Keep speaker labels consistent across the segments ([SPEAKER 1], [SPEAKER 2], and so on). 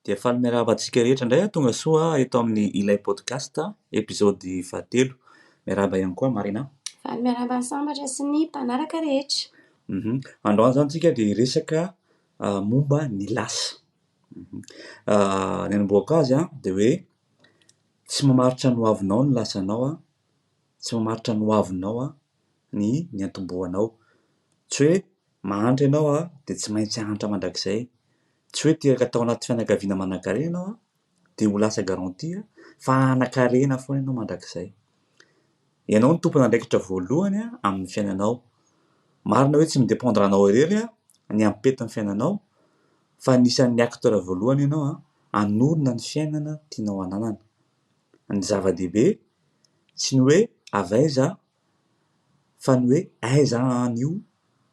[SPEAKER 1] Dia faly miarahaba antsika rehetra indray an, tonga soa eto amin'ny Ilay Podcast, episode fahatelo. Miarahaba ihany koa Marina. Faly miarahaba ny
[SPEAKER 2] sambatra sy ny mpanaraka rehetra. Mhm. Androany
[SPEAKER 1] izany tsika dia hiresaka ah, momba ny lasa. Mhm. Ah, ny anombohako azy an, dia hoe tsy mamaritra ny hoavinao ny lasanao an, tsy mamaritra ny hoavinao an, ny niantombohanao. Tsy hoe Mahantra ianao a, dia tsy maintsy hahantra mandrakizay. Tsy hoe teraka tao anaty fianakaviana manankarena ianao a, dia ho lasa garantie fa hanan-karena foana ianao mandrakizay. Ianao no tompon'andraikitra voalohany amin'ny fiainanao. Marina hoe tsy mi-dependre anao irery ny ampetin'ny fiainanao, fa anisan'ny acteur voalohany ianao hanorina ny fiainana tianao hananana. Ny zava-dehibe tsy ny hoe avy aiza Fa ny hoe aiza an io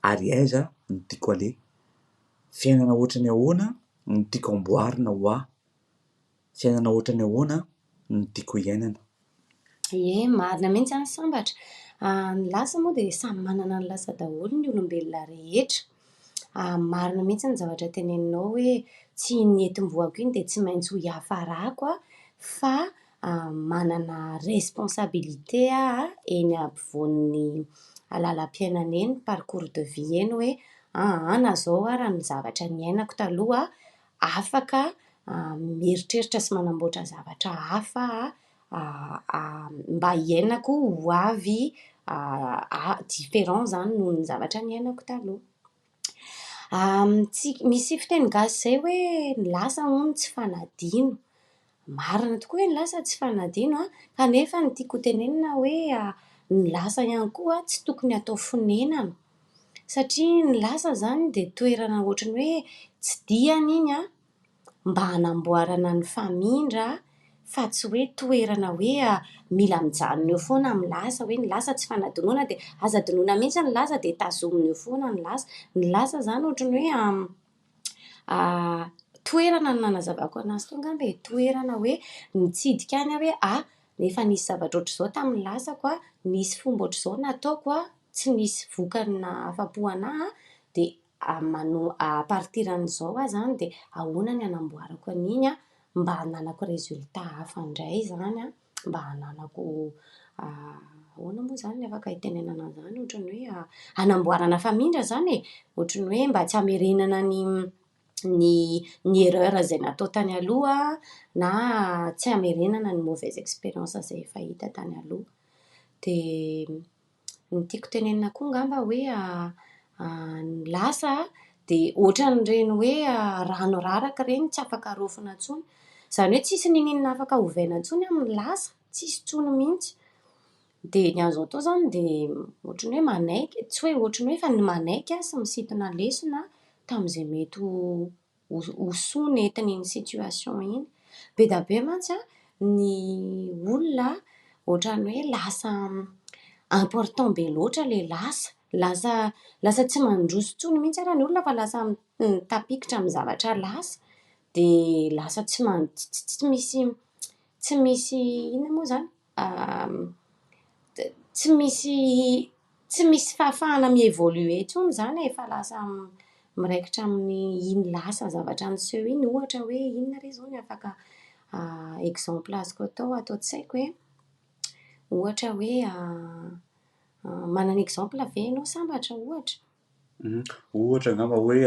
[SPEAKER 1] ary aiza no tiako aleha? Fiainana ohatran'ny ahoana no tiako amboarina ho ahy? Fiainana ohatran'ny ahoana no tiako hiainana? Ie,
[SPEAKER 2] marina mihitsy an, sambatra an, ny lasa moa dia samy manana ny lasa daholo ny olombelona rehetra, marina mihitsy ny zavatra teneninao hoe tsy iny nentim-boako iny dia tsy maintsy ho hiafarako aho fa manana responsabilité aho eny ampovoan'ny lalam-piainana eny, parcours de vie eny hoe aa na izao ary ny zavatra niainako taloha afaka mieritreritra sy manamboatra zavatra hafa mba hiainako ho avy, différent izany noho ny zavatra niainako taloha. Amintsika, misy fiteny gasy izay hoe ny lasa hono tsy fanadino. Marina tokoa hoe ny lasa tsy fanadino an! Kanefa ny tiako hotenenina hoe ny lasa ihany koa tsy tokony hatao fonenana. Satria ny lasa izany dia toerana ohatran'ny hoe tsy diany iny an! mba hanamboarana ny famindra fa tsy hoe toerana hoe mila mijanona eo foana amin'ny lasa hoe ny lasa tsy fanadinoana dia aza adinoina mihintsy ny lasa dia tazomina eo foana ny lasa, ny lasa izany ohatran'ny hoe toerana no nanazavako an'azy teo angamba e, toerana hoe nitsidika any aho hoe ah efa nisy zavatra ohatr'izao tamin'ny lasako ah, nisy fomba ohatr'izao nataoko ah, tsy nisy vokany nahafapo an'ahy ah, dia manoa à partir an'izao aho izany dia ahoana ny hanamboarako an'iny an, mba hananako résultat hafa indray izany an, mba hananako ahoana moa izany no afaka hitenenana an'izany, ohatran'ny hoe hanamboarana famindra izany e, ohatran'ny hoe mba tsy hamerenana ny ny ny erreur izay natao tany aloha na tsy hamerenana ny mauvaise expérience izay efa hita tany aloha, dia. Ny tiako tenenina koa angamba hoe ny lasa dia ohatran'ireny hoe rano raraka ireny tsy afaka arofona intsony. Izany hoe tsisy niniana afaka ovaina intsony amin'ny lasa, tsisy intsony mihitsy. Dia ny an'izao fotoana izany dia ohatran'ny hoe manaiky, tsy hoe ohatran'ny hoe fa ny manaiky sy misintona lesona tamin'izay mety ho. ho ho soa nentina iny situation iny. Be da be mantsy an ny olona ohatrany hoe lasa important be loatra ilay lasa. Lasa lasa tsy mandroso intsony mihitsy ary ny olona fa lasa mitapikitra amin'ny zavatra lasa. Dia lasa tsy man tsy tsy misy tsy misy inona moa izany? tsy misy tsy misy fahafahana mi-evoluer intsony izany e, fa lasa miraikitra amin'ny iny lasa zavatra niseho iny, ohatra hoe inona re izao no afaka exemple azoko atao ato an-tsaiko e, ohatra hoe manana exemple ve ianao sambatra ohatra?
[SPEAKER 1] ohatra angamba hoe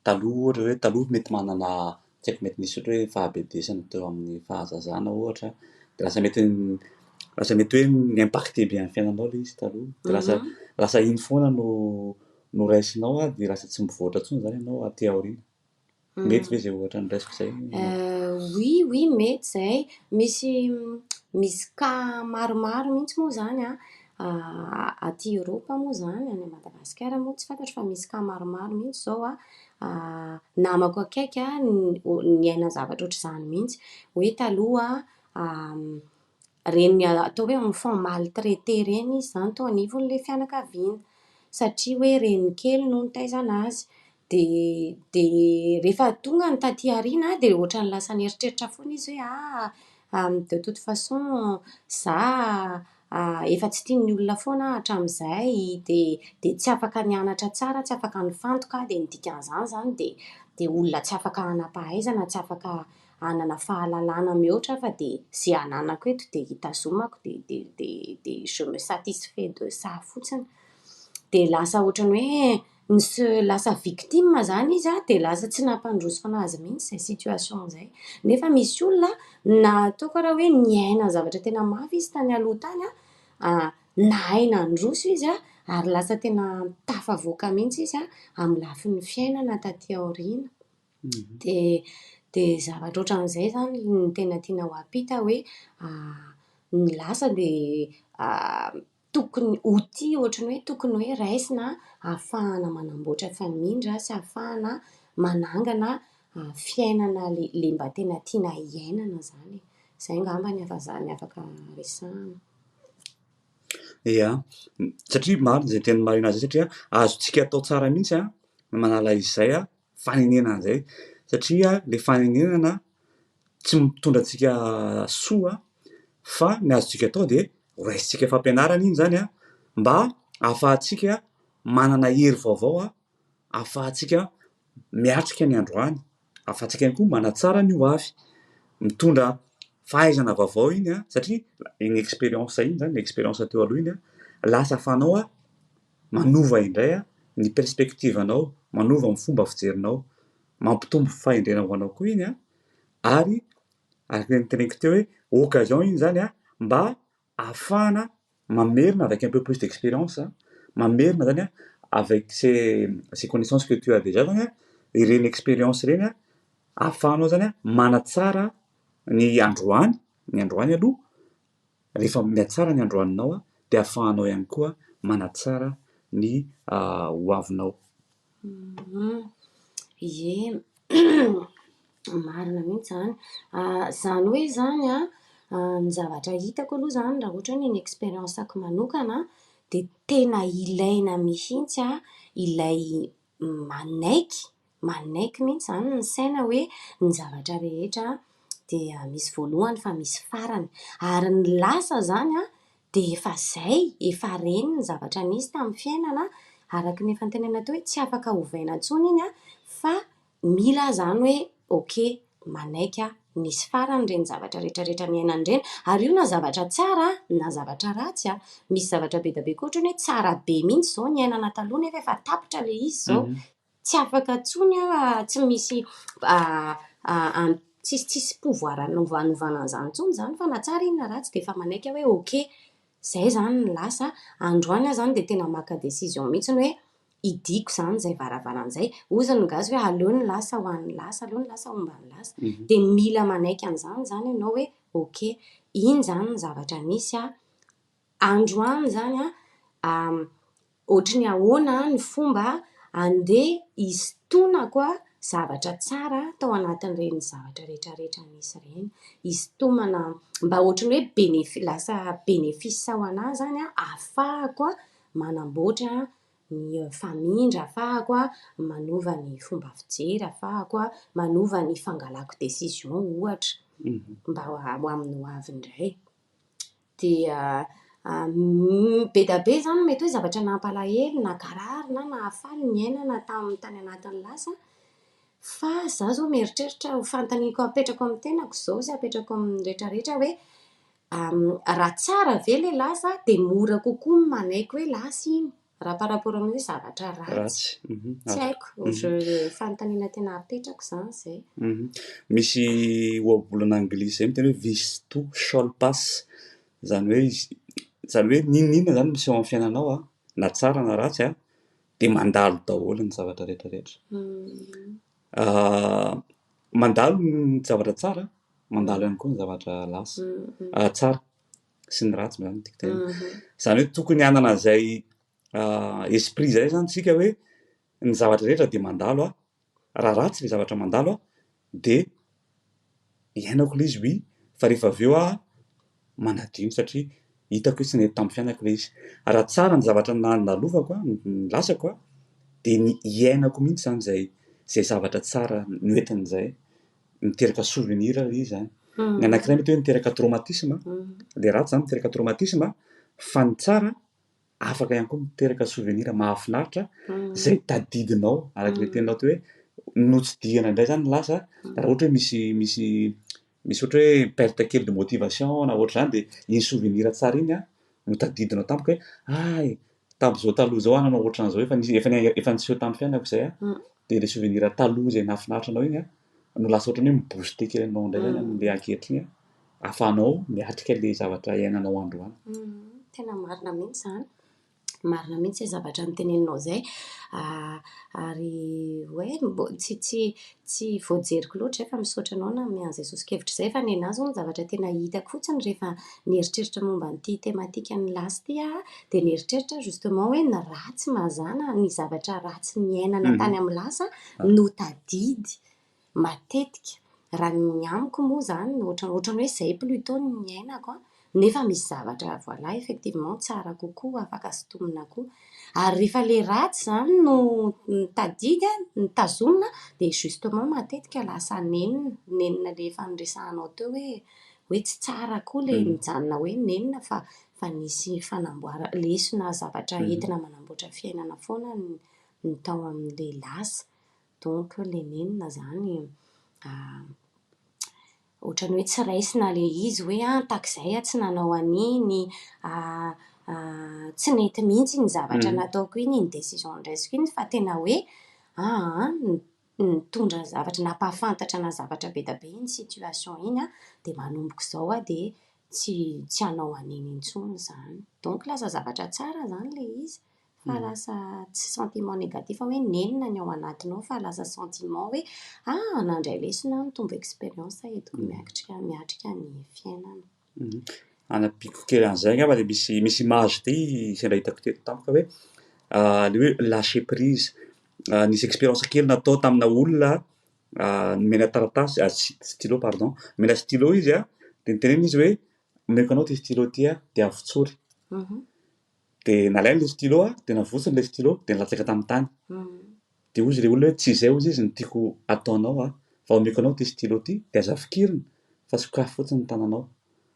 [SPEAKER 1] Taloha ohatra hoe taloha mety manana tsy haiko mety misy ohatra hoe fahabedesana teo amin'ny fahazazana ohatra dia lasa mety lasa mety hoe mi-impacte be amin'ny fiainanao ilay izy taloha dia lasa lasa iny foana no no raisinao ary dia lasa tsy mivoatra intsony izany ianao aty aoriana. Mety ve izay ohatra noraisiko izay? Oui
[SPEAKER 2] oui mety izay, misy misy cas maromaro mihitsy moa izany an, Aty Eoropa moa izany, any Madagasikara moa tsy fantatro fa misy cas maromaro mihitsy izao an, namako akaiky niaina zavatra ohatr'izany mihitsy. Hoe taloha ireny atao hoe enfant maltraité ireny izy izany tao anivon'ilay fianakaviana, satria hoe renikeliny no nitaizana azy. Dia dia rehefa tonga ny taty aoriana dia ohatran'ny lasa nieritreritra foana izy hoe ah ah de toute façon za efa tsy tian'ny olona foana aho hatramin'izay dia dia tsy afaka nianatra tsara, tsy afaka nifantoka aho dia ny dikan'izany izany dia dia olona tsy afaka hanam-pahaizana, tsy afaka hanana fahalalana mihoatra aho fa dia izay ananako eto dia hitazomako dia dia dia dia je me satisfais de ça fotsiny. Dia lasa ohatran'ny hoe ny se lasa victime zany izy a, dia lasa tsy nampandroso an'azy mihitsy izay situation izay, nefa misy olona na ataoko ara hoe niaina zavatra tena mafy izy tany aloha tany a, a nahay nandroso izy a, ary lasa tena tafavoaka mihitsy izy a, amin'ny lafiny fiainana taty aoriana, dia dia zavatra otran'izay zany no tena tiana ho ampita hoe, a ny lasa dia a. tokony ho tia ohatry ny hoe tokony hoe raisina ahafahana manamboatra famindra sy ahafahana manangana fiainana le le mba tena tiana hiainana zany e, zay angamba ny afa ny afaka resahana.
[SPEAKER 1] Ia, satria marina izay teny marina izay satria azontsika atao tsara mihitsy an ny manala izay an fanenenana izay satria ilay fanenenana tsy mitondra antsika soa fa ny azontsika atao dia horaisintsika fampianarana iny izany an, mba hahafahantsika manana hery vaovao an, hahafahantsika miatrika ny androany, hahafahantsika ihany koa manatsara ny ho avy, mitondra fahaizana vaovao iny an, satria iny experience iny izany, ny experience teo aloha iny an, lasa fanao an. Manova indray ny perspective anao, manova ny fomba fijerinao, mampitombo fahendrena ho anao koa iny an! ary araka ny teneniko teo hoe occasion iny izany an! mba ahafahana mamerina avec un peu plus d'experience, mamerina izany an! avec ces connaissances que tu as déjà izany an! ireny experience ireny an! ahafahanao izany an! manatsara ny androany, ny androany aloha, Rehefa mihatsara ny androaninao dia ahafahanao ihany koa manatsara ny hoavinao.
[SPEAKER 2] Ye, marina mihitsy izany. Izany hoe izany an, ny zavatra hitako aloha izany raha ohatra hoe ny experience-ko manokana dia tena ilaina mihitsy ilay manaiky, manaiky mihitsy izany ny saina hoe ny zavatra rehetra dia misy voalohany fa misy farany. Ary ny lasa izany dia efa izay, efa reny ny zavatra nisy tamin'ny fiainana, araka ny efa notenenina teo hoe tsy afaka ovaina intsony iny fa mila izany hoe ok. manaiky aho, nisy farany ireny zavatra rehetra rehetra niainany ireny, ary io na zavatra tsara na zavatra ratsy a, misy zavatra be dia be koa ohatrany hoe tsara be mihitsy izao niainana taloha nefa efa tapitra ilay izy izao, tsy afaka intsony aho tsy misy tsisy tsisy pouvoir hanaovana an'izany intsony izany fa na tsara iny na ratsy dia efa manaiky aho hoe ok izay izany no lasa, androany aho izany dia tena maka décision mihitsy hoe. Hidiako izany izay varavarana izay. Hozy ny gasy hoe aleo ny lasa ho an'ny lasa, aleo ny lasa homba ny lasa. Dia mila manaiky an'izany izany ianao hoe ok, iny izany ny zavatra nisy an, androany izany an, ohatry ny ahoana ny fomba handeha hisintonako zavatra tsara tao anatin'ireny zavatra rehetrarehetra nisy ireny. Hisintomana mba ohatry ny hoe bénéfice, lasa bénéfice ho anà izany an, ahafahako manamboatra ny famindra afahako manova ny fomba fijery afahako manova ny fangalako décision ohatra mba ho amin'ny ho avy indray dia be dia be izany mety hoe zavatra nampalahelo nakarary na nahafaly ny iainana tamin'ny tany anatin'ny lasa fa za zao mieritreritra ho fantaniko apetrako amin'ny tenako izao sy apetrako amin'ny retraretra hoe Raha tsara ve ilay lasa dia mora kokoa ny manaiky hoe lasa iny raha par rapport amin'ny hoe zavatra ratsy. Tsy haiko, fanontaniana tena apetrako izany izay. Misy
[SPEAKER 1] ohabolana anglisy izay miteny hoe this too shall pass, izany hoe izany hoe n'inon'inona izany miseho amin'ny fiainanao an, na tsara na ratsy an, dia mandalo daholo ny zavatra rehetrarehetra. Mandalo ny zavatra tsara mandalo ihany koa ny zavatra lasa tsara sy ny ratsy zany tiako tenena zany hoe tokony hanana an'izay esprit zay zany tsika hoe ny zavatra rehetra de mandalo a raha ratsy le zavatra mandalo a de iainako le izy oui fa rehefa avy eo aho manadio iny satria hitako hoe tsy nety tamin'ny fiainako ilay izy. Raha tsara ny zavatra nandalofako an, ny lasako an, dia ny hiainako mihitsy izany izay izay zavatra tsara noentiny izay. Miteraka souvenir ilay izy izany. Ny anankiray mety hoe niteraka traumatisme, ilay ratsy izany miteraka traumatisme, fa ny tsara afaka ihany koa miteraka souvenir mahafinaritra izay tadidinao araka ilay teninao teo hoe notsidihana indray zany ny lasa raha ohatra hoe misy misy misy ohatra hoe perte kely de motivation na ohatra izany dia iny souvenir tsara iny a no tadidinao tampoka hoe ay tamin'izao taloha izao aho nanao ohatran'izao efa nisy efa ni- efa niseho tamin'ny fiainako izay a dia ilay souvenir taloha izay nahafinaritra anao iny a no lasa ohatra ny hoe mi-booster kely anao indray zany amin'ilay ankehitriny a ahafahanao miatrika ilay zavatra iainanao androany. Tena
[SPEAKER 2] marina mihitsy izany, marina mihitsy izay zavatra noteneninao izay, ary hoe tsy tsy tsy voajeriko loatra izay fa misaotra anao nanome an'izay soso-kevitra izay fa ny anà izao ny zavatra tena hitako fotsiny rehefa nieritreritra momba an'ity thématique an'i Lasy ity aho dia nieritreritra aho justement hoe ny ratsy mazàna, ny zavatra ratsy niainana tany amin'ny lasa no tadidy. matetika raha ny amiko moa izany ohatran'ny ohatran'ny hoe izay plutot no niainako an, nefa misy zavatra voilà effectivement tsara kokoa afaka sintomina koa, ary rehefa ilay ratsy izany no tadidy an, no tazomina an, dia justement matetika lasa nenina, nenina ilay efa niresahanao teo hoe hoe tsy tsara koa ilay mijanona hoe nenina fa fa nisy fanamboarana, lesona zavatra entina manamboatra fiainana foana ny tao amin'ilay lasa. Donc Lenine izany ohatran'ny hoe tsy raisina ilay izy hoe an, takizay aho tsy nanao an'iny, tsy nety mihitsy iny zavatra nataoko iny, iny décision noraisiko iny fa tena hoe aa nitondra zavatra, nampahafantatra ana zavatra be dia be iny situation iny an, dia manomboka izao aho dia tsy tsy hanao an'iny intsony izany. Donc lasa zavatra tsara izany ilay izy. Fa lasa tsy sentiment négatif hoe nenina ny ao anatinao fa lasa sentiment hoe ah nandray lesona aho nitombo expérience aho eto ko miatrika miatrika ny fiainana.
[SPEAKER 1] Hanampiako kely an'izay angamba dia misy misy image be sendra hitako teto tampoka hoe le hoe lâcher prise nisy expérience kely natao tamina olona nomena taratasy stylo pardon nomena stylo izy a dia notenenina izy hoe omeko anao ity stylo ity a dia avotsory. Dia nalainy ilay stylo a, dia navotsiny ilay stylo, dia nilatsaka tamin'ny tany. Dia hoy izy ilay olona hoe, tsy izay hoy izy izy no tiako hataonao a, fa omeko anao ity stylo ity, dia aza fikirina, fa sokafy fotsiny ny tananao.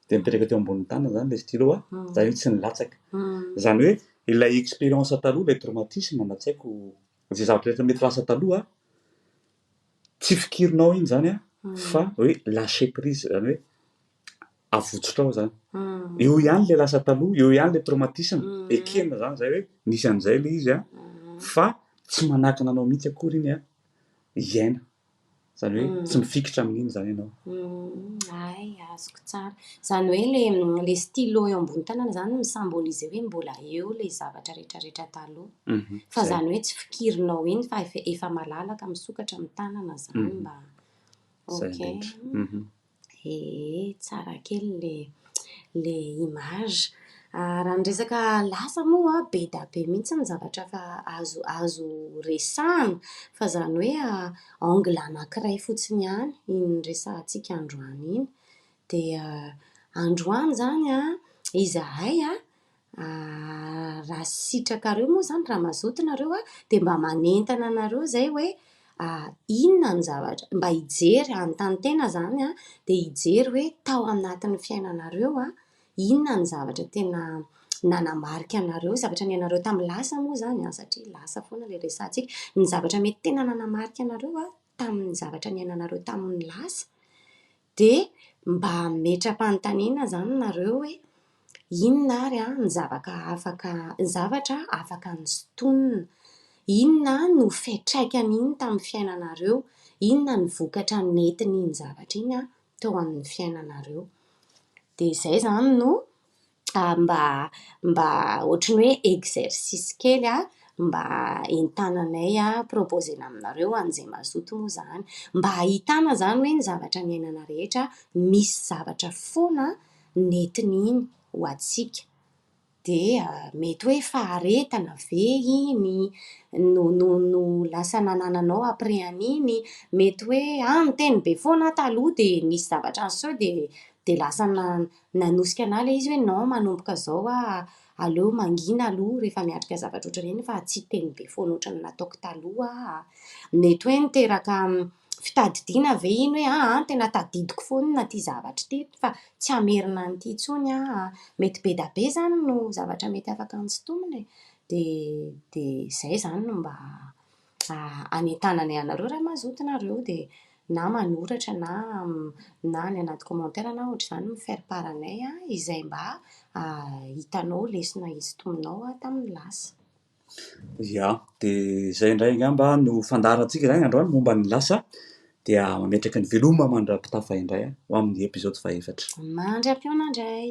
[SPEAKER 1] Dia nipetraka teo ambonin'ny tanany izany ilay stylo a, izany hoe tsy nilatsaka. Izany hoe ilay expérience taloha, ilay traumatisme na tsy haiko, izay zavatra rehetra mety lasa taloha, tsy fikirinao iny izany a, fa hoe lâcher prise, izany hoe avotsotrao zany eo ihany le lasa taloha eo ihany le traumatisme ekena zany zay hoe nisy an'izay le izy a fa tsy manakana anao mihitsy akory iny a iaina zany hoe tsy mifikitra amin'iny zany ianao ay
[SPEAKER 2] azoko tsara zany hoe le le stylo eo ambony tanana zany misambolise hoe mbola eo le zavatra rehetrarehetra taloha mhm. fa zany hoe tsy fikirinao iny fa efa malalaka misokatra amin'ny tanana zany mhm. mba ok mhm. Ee, tsara kely le le image. Ah, raha ny resaka lasa moa a, be dia be mihitsy ny zavatra fa azo azo resahana, fa izany hoe angle anankiray fotsiny ihany iny resahantsika androany iny. Dia androany izany an, izahay an, Ahh raha sitrakareo moa zany raha mazoto nareo a dia mba manentana anareo zay hoe ahh inona ny zavatra mba hijery hanontany tena zany a dia hijery hoe tao anatin'ny fiainanareo a inona ny zavatra tena nanamarika anareo zavatra niainareo tamin'ny lasa moa zany a satria lasa foana ilay resahantsika ny zavatra mety tena nanamarika anareo a tamin'ny zavatra niainanareo tamin'ny lasa Dia mba ametra-panontaniana izany nareo hoe inona ary ny zavaka afaka, ny zavatra afaka nosintonina? Inona no fiatraikan'iny tamin'ny fiainanareo? Inona ny vokatra nentin'iny zavatra iny teo amin'ny fiainanareo? Dia izay izany no. mba mba ohatry ny hoe exercice kely a, mba entananay a, proposer-na aminareo an'izay mazoto moa izany, mba ahitana izany hoe ny zavatra niainana rehetra misy zavatra foana nentin'iny ho antsika, dia mety hoe faharetana ve iny no no no lasa nanananao après an'iny, mety hoe, ah niteny be foana aho taloha dia nisy zavatra niseho dia dia lasa na-. Nanosika anah ilay izy hoe non manomboka zao ah aleo mangina aloha rehefa miatrika zavatra ohatr'ireny fa tsy hiteny be foana ohatrany nataoko taloha ah. Mety hoe niteraka fitadidiana ve iny hoe ah an tena tadidiko foana ity zavatra ity fa tsy hamerina an'ity intsony ah. Mety bedabe izany no zavatra mety afaka hantsitomina e. Dia dia izay izany no mba hanentananay anareo raha mazoto nareo dia na manoratra na na any anaty commentaire na ohatr'izany mi faire part anay izay mba hitanao lesona isintominao tamin'ny lasa. Ia,
[SPEAKER 1] dia izay indray angamba no fandaharantsika izany androany momba ny lasa, dia mametraka ny veloma mandra-pitafa indray ho amin'ny episode fahefatra. Mandra-pihaona
[SPEAKER 2] indray.